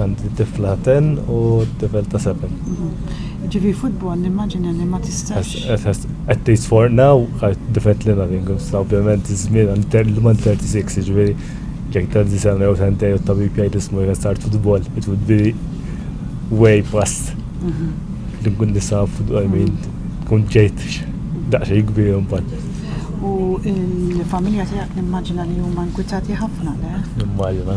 Għandi tifla ten u tifel ta' seven. Ġivi futbol nimmaġina li ma tistax. At least for now, different li nothing, ovvjament żmien għandi man 36, ġivi jek ta' disana jew sentej u tabib jgħid ismu jgħid start futbol, it would be way past li nkun nisa futbol min kun ġejt daqxej kbir mbagħad. U il-familja tiegħek nimmaġina li huma nkwitati ħafna, le? Nimmaġina.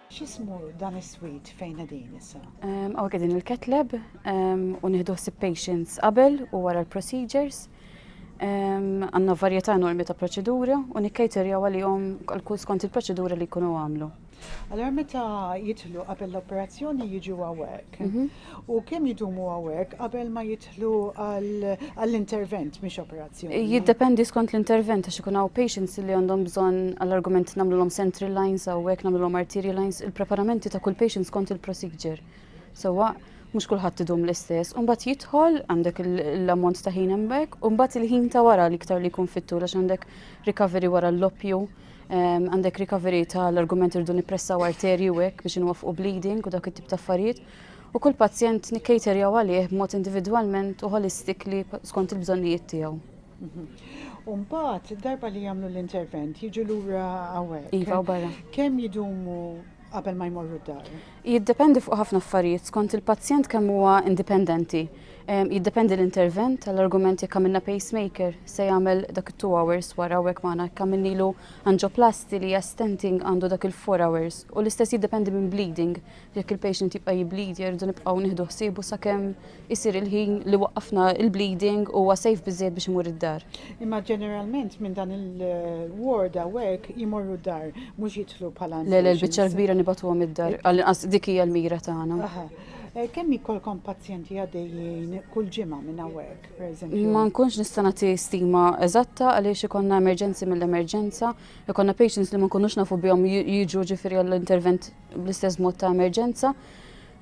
X'ismu dan is-swit fejn qegħdin issa? Hawnhekk qegħdin il-ketleb u nieħdu ħsieb patients qabel u wara l-procedures. Għandna varjetà enormi ta' proċeduri u nikkejterjaw għalihom kull skont il-proċedura li jkunu għamlu. Allora meta jitlu qabel l-operazzjoni jiġu għawek. Mhm. U kemm jidumu għawek qabel ma jitlu? jidħlu għall-intervent mhix operazzjoni. Jiddependi skont l-intervent għax ikun hawn patients li għandhom bżonn għall-argument nagħmlulhom central lines u hekk nagħmlulhom arterial lines, il-preparamenti ta' kull patient skont il-procedure. Sewwa mhux kulħadd idum l-istess, u mbagħad jidħol għandek l-ammont ta' ħin hemmhekk, u mbagħad il-ħin ta' wara li iktar li jkun fit-tul għax għandek recovery wara l-loppju, ehm, għandek recovery tal-argument irdu nippressaw arterji u hekk biex inwaffqu bleeding u dak it-tip ta' affarijiet. u kull pazjent nikcaterjaw għalih b'mod individwalment u holistically skont il-bżonnijiet tiegħu. Umbat, mhm. darba li jagħmlu l-intervent, jiġu lura hawnhekk. Iva, barra. Kemm jidumu qabel ma jmorru d-dar? Jiddependi fuq ħafna affarijiet, skont il-pazjent kemm huwa indipendenti. Jiddependi l-intervent tal-argument jekk għamilna pacemaker se jagħmel dak it-2 hours wara hekk magħna jekk għamilnilu anġoplasti li hija stenting għandu dak il-4 hours u l-istess jiddependi minn bleeding Jekk il-patient jibqa' jibblidja rridu nibqgħu nieħdu ħsiebu sakemm isir il-ħin li waqqafna il-bleeding huwa safe biżżejjed biex imur id-dar. Imma ġeneralment minn dan il-ward hawnhekk jmorru d-dar mhux jidħlu bħala. Le le l-biċċa l-kbira nibatuhom id-dar għall-inqas dik hija l-mira tagħna. Eh, kemm jkollkom pazjenti għaddejjin kull ġimgħa minn hawnhekk, pereżempju? Ma nkunx nista' nagħti stima eżatta għaliex ikollna emerġenzi mill-emerġenza, ikollna patients li ma nkunux nafu bihom jiġu ġifieri għall-intervent bl-istess mod ta' emerġenza,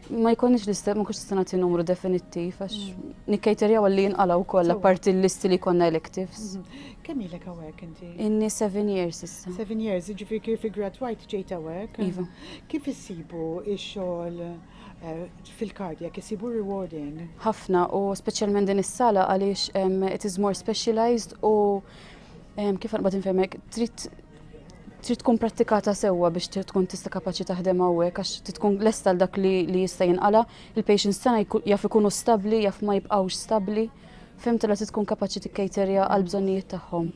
ma jkunix l-istess, ma kunx nagħti numru definittiv, għax mm. nikkajterjaw li jinqalaw kollha parti l-listi li konna electives. Mhm. Kemm ilek hawnhekk inti? Inni seven years issa. Seven years, ġifieri kif igradwajt ġejt hawnhekk. Iva. Kif issibu x-xogħol eh, fil-kardja, kif issibu rewarding? Ħafna u speċjalment din is-sala għaliex it is more specialized u kif għanqbad infemek, trid trid tkun prattikata sewwa biex tkun tista' kapaċi taħdem hawnhekk għax trid tkun lesta għal dak li, li jista' jinqala. Il-patients tagħna jaf ikunu stabbli, jaf ma jibqgħux stabbli. Fimtu la trid tkun kapaċi tikkejterja għal bżonnijiet tagħhom.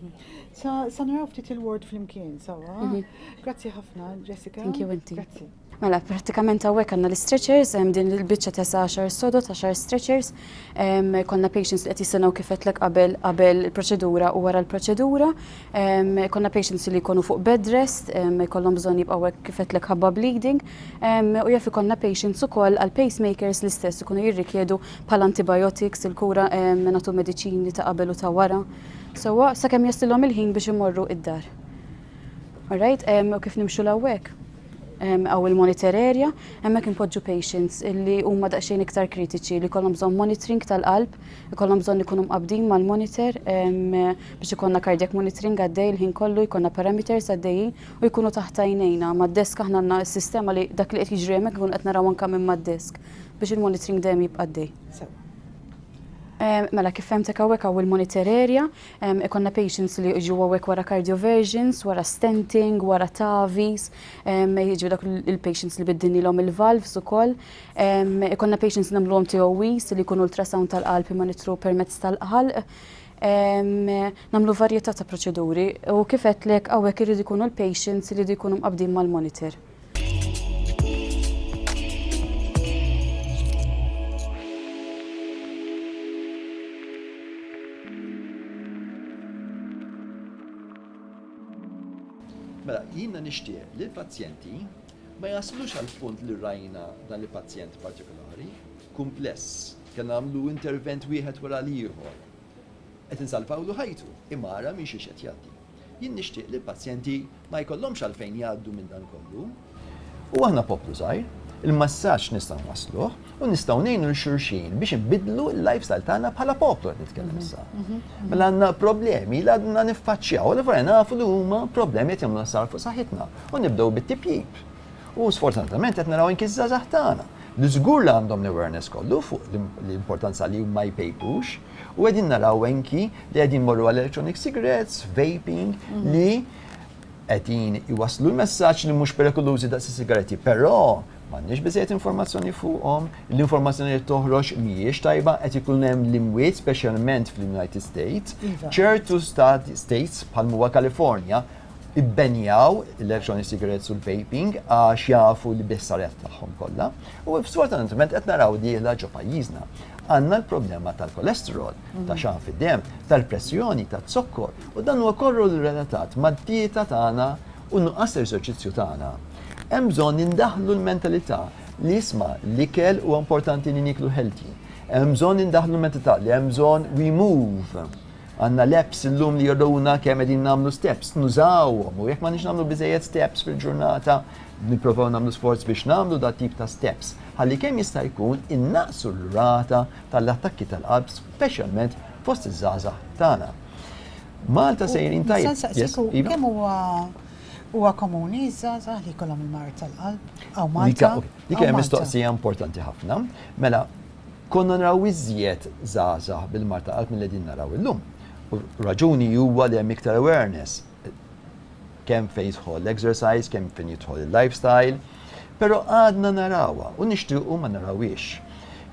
Sa, sa naraw ftit il-ward flimkien, sawa. Mhm. Grazzi ħafna, Jessica. Thank you, inti. Grazzi. Mela, pratikament għawek għanna l-stretchers, din l-bicċa tesa 10 sodot, 10 stretchers, konna patients li għet jistanaw kifet l qabel qabel il-proċedura u wara l-proċedura, konna patients li konu fuq bed rest, kollom bżon jibqawek kifet l ħabba bleeding, u jaffi konna patients u koll għal-pacemakers l-istess kunu jirrikjedu pal antibiotics, il-kura natu medicini ta' qabel u ta' wara. So, sa' kem jaslilom il-ħin biex imorru id-dar. Alright, u kif nimxu l-għawek? għaw il-monitor area, hemmhekk inpoġġu patients li huma daqsxejn iktar kritiċi li kollhom bżonn monitoring tal-qalb, ikollhom bżonn ikunu mqabdin mal-monitor biex ikollna cardiac monitoring għaddej il-ħin kollu, jkollna parameters għaddejjin u jkunu taħt għajnejna mad-desk aħna għandna s-sistema li dak li qed jiġri hemmhekk ikun qed naraw anke minn mad-desk biex il-monitoring dejjem jibqa' għaddej. Mela kif fehmtek hawnhekk hawn il-monitor area, Ikollna patients li jiġu hawnhekk wara cardioversions, wara stenting, wara TAVIs, jiġu dak il-patients li biddinilhom il-valves ukoll. Ikollna patients nagħmluhom TOEs li jkunu ultrasound tal-qalb imma nidħlu permezz tal-ħalq. Nagħmlu varjetà ta' proċeduri u kif għedtlek hawnhekk iridu jkunu l-patients li jridu jkunu mqabbdin mal-monitor. Mela, jiena nixtieq li l-pazjenti ma jaslux għal punt li rajna dan li pazjent partikolari, kumpless, kien għamlu intervent wieħed wara l-ieħor. Qed insalvawlu ħajtu, imara minn xiex qed jgħaddi. Jien nixtieq li l-pazjenti ma jkollhomx għalfejn jgħaddu minn dan kollu. U aħna poplu żgħir, il-messaġġ nistgħu nwassluh u nistgħu ngħinu lil xulxin biex inbiddlu l-lifestyle tagħna bħala poplu qed nitkellem issa. Mela għandna problemi li għadna niffaċċjaw, li vera nafu li huma problemi qed jagħmlu sar fuq saħħitna u nibdew bit-tipjip. U sfortunatament qed naraw anki ż-żgħażagħ tagħna li żgur li għandhom l-awareness kollu fuq l-importanza li ma jpejpux, U qegħdin naraw enki li qegħdin morru għal electronic cigarettes, vaping, mhm. li qegħdin iwaslu l-messaġġ li mhux perikolużi daqs is-sigaretti, però m'għandniex biżejjed informazzjoni fuqhom, l-informazzjoni li toħroġ mhijiex tajba qed ikun hemm l-imwiet speċjalment fl-United States, iva. ċertu states bħal huwa California ibbenjaw l-electronic cigarettes u l-vaping għax jafu li biss saret tagħhom kollha. U sfortunatament qed naraw li la ġo pajjiżna għandna l-problema tal-kolesterol, mhm. ta' xan fid-dem, tal-pressjoni, ta' zokkor u dan huwa korru relatat mad-dieta tagħna u nuqqas eżerċizzju tagħna. Hemm bżonn indaħlu l-mentalità li jisma' l-ikel huwa importanti li niklu healthy. Hemm bżonn indaħlu l-mentalità li hemm bżonn we move Għandna l-apps illum li juruna kemm qegħdin nagħmlu steps. Nużawhom u jekk m'għandniex nagħmlu biżżejjed steps fil-ġurnata, nipprovaw nagħmlu sforz biex nagħmlu dat-tip ta' steps ħalli kemm jista' jkun innaqqsu r-rata tal-attakki tal-qalb speċjalment fost iż-żgħażagħ tagħna. Malta sejrin tajjeb. Nista' nsaqsik kemm huwa huwa komuni ż-żgħażagħ li jkollhom il-mard tal-qalb hawn Malta? Dik hija mistoqsija importanti ħafna. Mela, Konna naraw iżjed żgħażagħ bil-mard ta' qalb milli qegħdin naraw illum. U raġuni huwa li hemm iktar awareness kemm fejn jidħol l-exercise, kemm fejn jidħol il-lifestyle, però għadna narawha u nixtiequ ma narawhiex.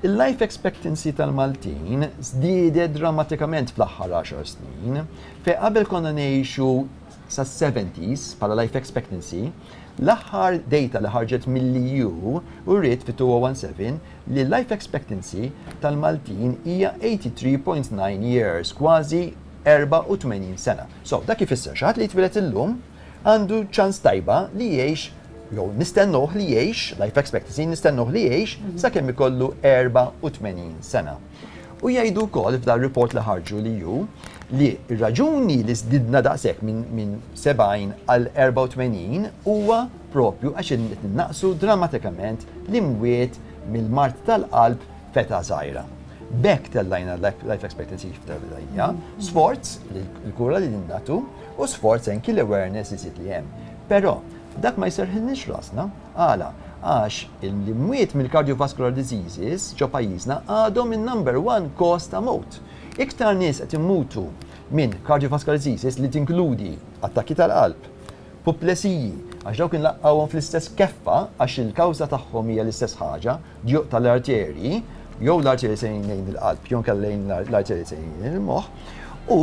Il-life expectancy tal-Maltin żdiedet drammatikament fl-aħħar għaxar snin, fejn qabel konna ngħixu sas-70s bħala life expectancy, L-aħħar dejta li ħarġet mill-EU uriet fit-2017 li l-life expectancy tal-Maltin hija 83.9 years, kważi 84 sena. So, dak ifisser xi ħadd li jitwieled illum għandu ċans tajba li jgħix jew nistennuh li jgħix, life expectancy nistennuh li jgħix sakemm ikollu 84 sena. U jgħidu wkoll f'dar-report li ħarġu li hu li r-raġuni li żdidna daqshekk minn 70 għal 84 huwa proprju għax qed innaqqsu drammatikament l-imwiet mill-mard tal-qalb f'età żgħira. B'hekk tellajna l-life expectancy f'Tardija, sforz li l-kura li din nagħtu u sforz anki l-awareness iżjed li hemm. Però dak ma jserrħilniex rasna. Għala? Għax l-imwiet mill-cardiovascular diseases ġo pajjiżna għadhom in-number one cause ta' mewt. Iktar nies qed imutu minn cardiovascular diseases li tinkludi attakki tal-qalb, puplesiji, għax dawk inlaqqgħuhom fl-istess keffa għax il-kawża tagħhom hija l-istess ħaġa, Djuq tal-arterji, jew l-arterji sejrin lejn il-qalb, jew inkella lejn l-arterji sejrin lejn il-moħħ, u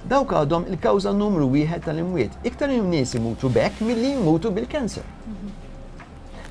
dawk għadhom il-kawża numru wieħed tal-imwiet. Iktar nies imutu b'hekk milli jmutu bil-cancer.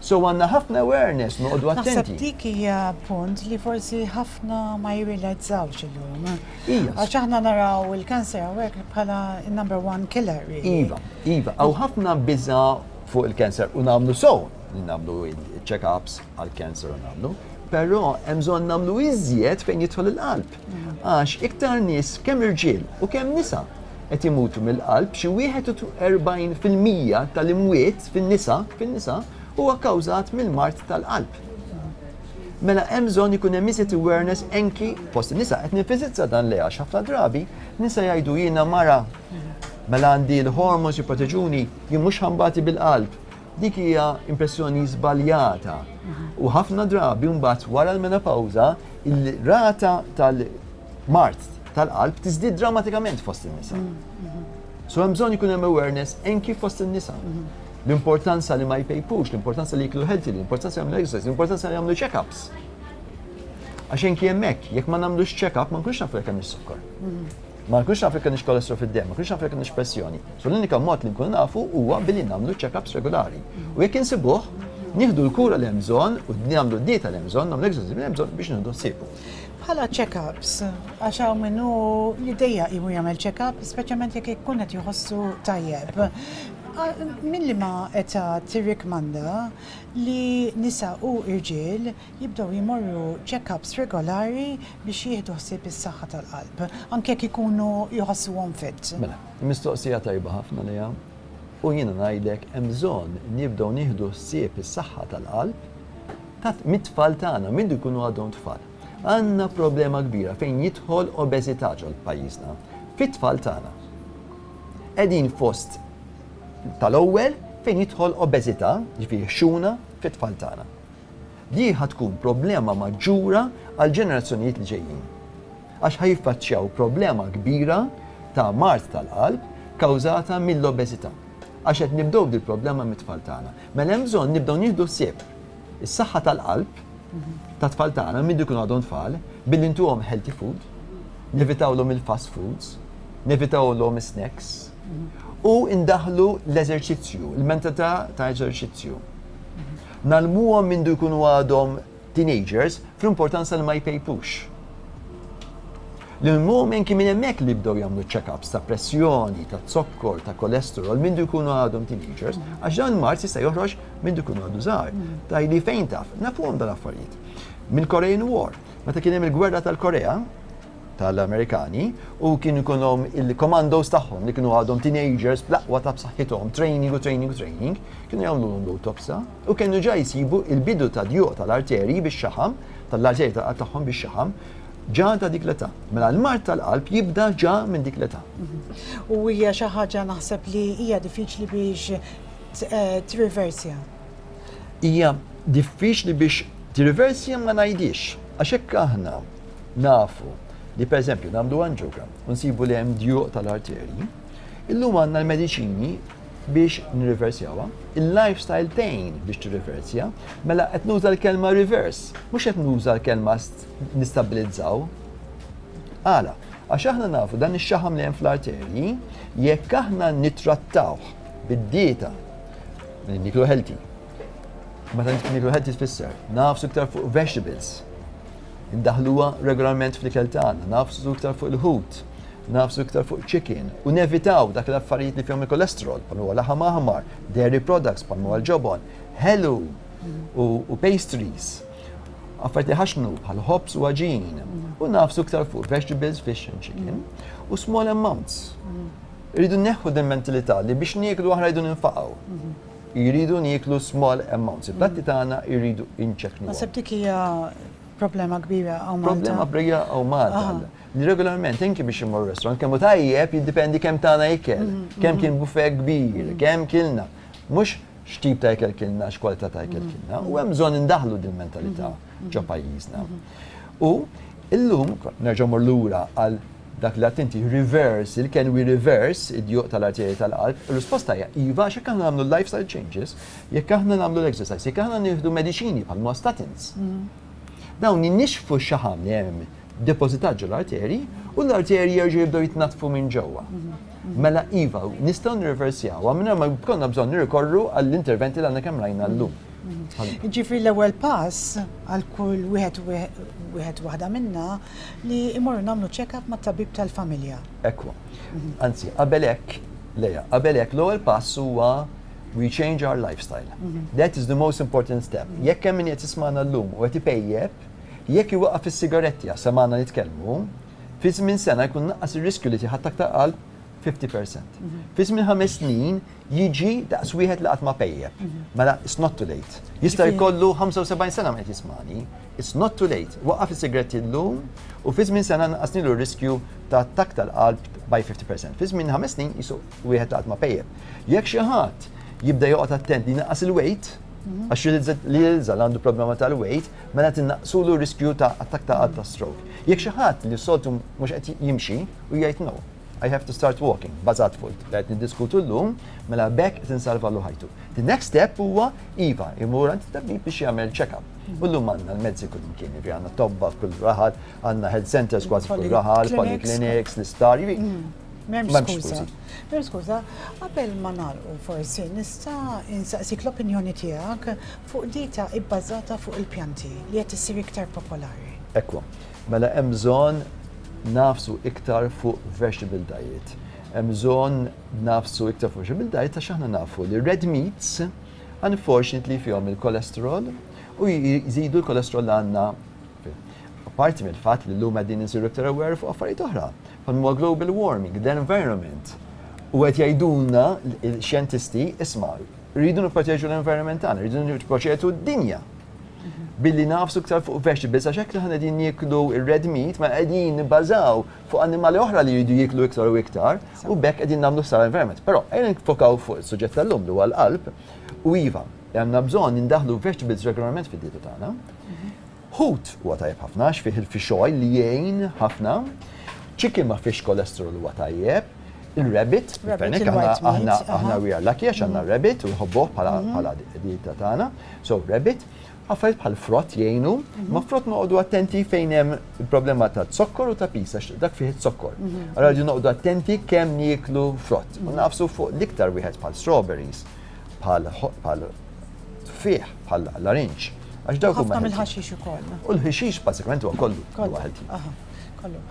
So għandna ħafna awareness noqogħdu attenti. Naħseb dik hija punt li forsi ħafna ma jirrilazzawx illum. Iva. Għax aħna naraw il-cancer hawnhekk bħala number one killer. Iva, iva, għaw ħafna biża fuq il-cancer u nagħmlu so li nagħmlu check-ups għall-cancer u nagħmlu, però hemm bżonn nagħmlu iżjed fejn jidħol il-qalb. Għax iktar nies kemm irġiel u kemm nisa qed imutu mill-qalb xi 41% tal-imwiet fin-nisa fin-nisa huwa kkawżat mill-mard tal-qalb. Mela hemm bżonn ikun hemm iżjed awareness anki fost in-nisa qed ninfisizza dan li għax ħafna drabi nisa jgħidu jiena mara mela għandi l-hormones jipproteġuni jien mhux ħambati bil-qalb Dik hija impressjoni żbaljata u ħafna drabi mbagħad wara l-menopawża il-rata tal-mart tal-qalb tiżdied drammatikament fost in-nisa. So hemm bżonn ikun hemm awareness anki fost in-nisa. L-importanza li ma jpejpux, l-importanza li jiklu healthy, l-importanza li jagħmlu exercise, l-importanza li jagħmlu check-ups. Għax anki hemmhekk, jekk ma nagħmlux check-up ma nkunx nafu jekk hemm is-sukkar. Ma nkunx naf jekk għandix kolestru fid-dem, ma nkunx naf jekk għandix pressjoni. So l-unika mod li nkun nafu huwa billi nagħmlu check-ups regulari. U jekk insibuh, nieħdu l-kura li hemm bżonn u nagħmlu d-dieta li hemm bżonn, nagħmlu l-eżerċizzju li hemm bżonn biex nieħdu ħsiebu. Bħala check-ups, għax hawn minnu li dejja imu jagħmel check-up, speċjalment jekk ikun qed jħossu tajjeb. Milli ma età tirrikmanda li nisa u irġiel jibdew jmorru check-ups regolari biex jieħdu ħsieb is-saħħa tal-qalb, anke jekk ikunu jħossuhom fit. Mela, mistoqsija tajba ħafna Lea, u jiena ngħidlek hemm bżonn nibdew nieħdu ħsieb is-saħħa tal-qalb ta' mit-tfal tagħna, minn li jkunu għadhom tfal. Għandna problema kbira fejn jidħol obeżità ġol pajjiżna, fit-tfal tagħna. Qegħdin fost tal-ewwel fejn jidħol obeżità, jiġifieri ħxuna, fit-tfal tagħna. Di ħa tkun problema maġġura għall-ġenerazzjonijiet li ġejjin, għax ħa jiffaċċjaw problema kbira ta' mard tal-qalb kawżata mill-obeżità, għax qed nibdew dil-problema mit-tfal tagħna. Mela hemm bżonn nibdew nieħdu ħsieb is-saħħa tal-qalb tat-tfal tagħna minn ikunu għadhom tfal billi ntuhom healthy food, nevitawlhom il-fast foods, nevitawlhom is-snacks u ndaħħlu l-eżerċizzju, il-mentalità ta' eżerċizzju. Ngħallmuhom mindu jkunu għadhom teenagers fl-importanza li ma jpejpux. L-mumen kien minn hemmhekk li bdew jagħmlu check-ups ta' pressjoni, ta' zokkor, ta' kolesterol mindu jkunu għadhom teenagers, għax dan il-mart jista' joħroġ mindu jkunu għadu żgħar. Tajli fejn taf, nafuhom dal-affarijiet. Mill-Korean War, meta kien hemm il-gwerra tal-Korea, tal-Amerikani u kien ikunhom il-commandos tagħhom li kienu għadhom teenagers bl-aqwa ta' b'saħħithom, training u training u training, kienu jagħmlulhom l-autopsa u kienu ġa jsibu il-bidu ta' djuq tal-arterji bix-xaħam, tal-arterji tal-qalb tagħhom bix-xaħam, ġa ta' dik l-età. Mela l-mart tal-qalb jibda ġa minn dik l-età. U hija xi ħaġa naħseb li hija diffiċli biex eh, tirriversja. Hija diffiċli biex tirriversja ma ngħidix, għax hekk aħna Nafu li pereżempju nagħmlu anġiogram u nsibu li hemm djuq tal-arterji, illum għandna l-mediċini biex nirriversjawha, il-lifestyle tgħin biex tirriversja, mela qed nuża l-kelma reverse, mhux qed nuża l-kelma nistabilizzaw. Għala, għax aħna nafu dan ix-xaħam li hemm fl-arterji, jekk aħna nittrattawh bid-dieta li niklu healthy, Meta niklu healthy tfisser, nafsu iktar fuq vegetables. Indaħħluha regolarment fl-ikel tagħna, nagħfsu iktar fuq il-ħut, nagħfsu iktar fuq chicken u nevitaw dak l-affarijiet li fihom il-kolesterol bħal huwa laħam aħmar, dairy products bħal huwa l-ġobon, ħelu u pastries, affarijiet li jħaxxnu bħal ħobż u għaġin u nagħfsu iktar fuq vegetables, fish and chicken u small amounts. Irridu neħħu din mentilità li biex nieklu aħna rridu ninfaqgħu. Jridu nieklu small amounts. Il-platti tagħna jridu inċekknuhom. Naħseb dik hija problema kbira hawn Malta. Problema kbira hawn Malta. Regolarment inki biex immur restaurant kemm hu tajjeb jiddependi kemm tagħna ikel, kemm kien buffet kbir, kemm kilna. Mhux x'tip ta' ikel kilna, x'kwalità ta' ikel kilna. U hemm bżonn indaħħlu din il-mentalità ġo pajjiżna. U llum, nerġa' mmur lura għal Dak li għedt inti, reverse il, can we reverse id-djuq tal-arterji tal-qalb? Ir-risposta hija iva għax jekk aħna nagħmlu l-lifestyle changes, jekk aħna nagħmlu l-exercise, jekk aħna nieħdu mediċini bħal huma statins, dawn inixxfu x-xaħam li hemm depożitat ġo l-arterji u l-arterji jerġgħu jibdew jitnaddfu minn ġewwa. Mela iva, nistgħu nirriversjawha mingħajr ma jkollna bżonn nirrikorru għall-interventi li għadna kemm rajna llum. Jiġifieri l-ewwel pass għal kull wieħed wieħed waħda minna, Li imorru nagħmlu check-up mat-tabib tal-familja. Ekku. Anzi, qabel hekk, Lea, qabel hekk l-ewwel pass huwa we change our lifestyle. Mhm. That is the most important step. Mhm. Jekk hemm min qed jismana llum u qed ipejjeb, jekk iwaqaf is-sigaretti għax semana nitkellmu, fi żmien sena jkun naqqas ir-riskju li tiħadd aktar qalb 50%. Mhm. Fi żmien ħames snin Jiġi daqs wieħed li qatt ma pejjep. Mela, it's not too late. Jista' jkollu 75 sena ma qed jismani. It's not too late. Waqqaf is-sigaretti llum u fi żmien sena naqasnilu r-riskju ta' attakk tal-qalb by 50%. Fi żmien ħames snin qisu wieħed li qatt ma pejjep. Jekk xi ħadd jibda joqgħod attent li jnaqqas il-weight, għax li jilża' li għandu problema tal-weight, mela tinnaqqsulu r-riskju ta' attakk tal-qalb ta' stroke. Jekk xi ħadd li soltu mhux qed jimxi u jgħid no. I have to start walking, bażat fuq li qed niddiskutu llum, mela bekk qed insalvalu ħajtu. The next step huwa iva, imur għand tabib biex jagħmel check-up. Mm. U llum għandna l-mezzi kull imkien, jiġri għandna tobba f'kull raħal, għandna health centers kważi f'kull raħal, polyclinics, l-isptar, jiġri. Mm. Memx skuża. Memx skuża, qabel ma nagħlqu forsi nista' insaqsik l-opinjoni tiegħek fuq dita ibbażata fuq il-pjanti li qed issir iktar popolari. Ekku. Mela hemm bżonn nagħfsu iktar fuq vegetable diet. Hemm bżonn nagħfsu iktar fuq vegetable diet għax aħna nafu li red meats unfortunately fihom il-kolesterol u jżidu l-kolesterol għandna Parti mill-fatt li l-lum għedin nsiru iktar aware fuq affarijiet oħra, bħal huwa global warming, the environment. U qed jgħidulna l-xjentisti isma' rridu nipproteġu l-environment tagħna, rridu nipproteġu d-dinja. billi nafsu ktar fuq vegetables, għax hekk li ħana din jiklu il-red meat, ma qegħdin nibbażaw fuq animali oħra li jridu jiklu iktar u iktar, u bekk qegħdin nagħmlu sar environment. Però qegħdin nfokaw fuq is-suġġett tal-lum li huwa l-qalb, u iva, għandna bżonn indaħlu vegetables regolarment fid-dieta tagħna. Hut huwa tajjeb ħafna, x'fih il-fixoj li jgħin ħafna, chicken ma fiex kolesterol huwa tajjeb, Il-rabbit, il-fenek, aħna we are lucky għax għanna rabbit u nħobbuħ mhm. bħala dieta tagħna. So rabbit, għaffariet bħal frott jgħinu, mhm. ma frott noqogħdu attenti fejn hemm il-problema ta' zokkor u ta' pisa, dak fih zokkor. Mhm. Allora ġu noqogħdu attenti kemm nieklu frott. U nafsu fuq l-iktar wieħed bħal strawberries, bħal fih, bħal larinċ. Għax dawk huma. mill-ħaxix ukoll. U l-ħaxix bażikament huwa kollu. Kollu. Kollu.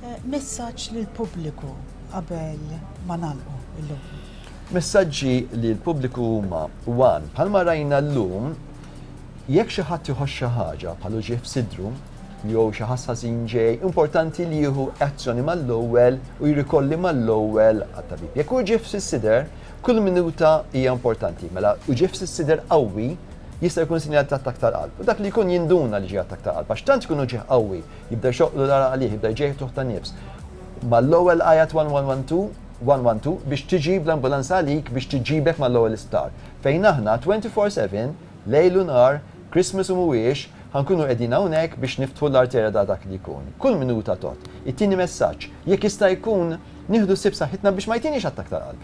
Eh, messaġġ lil pubbliku qabel ma nagħlqu illum. Messaġġi li l-pubbliku huma wan bħalma rajna llum jekk xi ħadd iħoss xi ħaġa bħalu ġieħ f'sidru jew xi ħasħażin ġej, importanti li jieħu azzjoni mal-ewwel u jrikolli mal-ewwel għat-tabib. Jekk hu ġieħ fis-sider, kull minuta hija importanti. Mela u ġieħ fis-sider qawwi jista' jkun sinjal ta' attak tal-qalb. U dak li jkun jinduna li ġie attak tal-qalb, għax tant jkun ġieħ qawwi Jibda jxoqqlu l-għaraq għalih, jibda jġegħ ftuħ ta' nifs. Mal-ewwel għajat 1112, 112 biex tiġi bl-ambulanza għalik biex tiġibek mal-ewwel isptar. Fejn aħna 24 seven, lejl u nhar, Christmas u mhuwiex, ħa nkunu qegħdin hawnhekk biex niftħu l-arterja ta' dak li jkun. Kull minuta tgħodd. It-tieni messaġġ, jekk jista' jkun, nieħdu ħsieb saħħitna biex ma jtiniex attakk tal-qalb.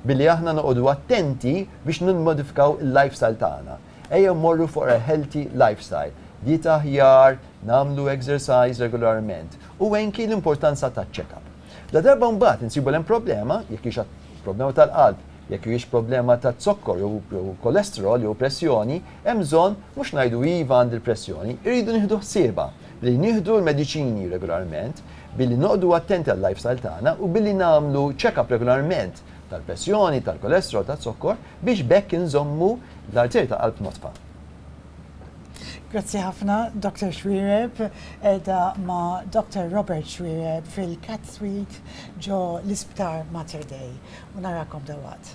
Billi aħna noqogħdu attenti biex nimmodifikaw il-lifestyle tagħna. Ejjew mmorru for a healthy lifestyle, dieta aħjar, nagħmlu exercise regolarment u anki l-importanza ta' check-up. Ladarba mbagħad insibu li hemm problema, jekk hix problema tal-qalb, jekk hijiex problema ta' zokkor jew cholesterol jew pressjoni, hemm bżonn mhux ngħidu iva għandi l-pressjoni, irridu nieħdu ħsiebha billi nieħdu l-mediċini regolarment, billi noqogħdu attenti għal-lifestyle tagħna u billi nagħmlu check-up regolarment tal-pressjoni, tal-cholesterol, taz-zokkor biex b'hekk inżommu L-arterji ta' qalb nodfa. Grazzi ħafna Doctor Xuereb, qiegħda ma' Doctor Robert Xuereb fil-Cath Suite ġo l-Isptar Mater Dei. U narakom dalwaqt.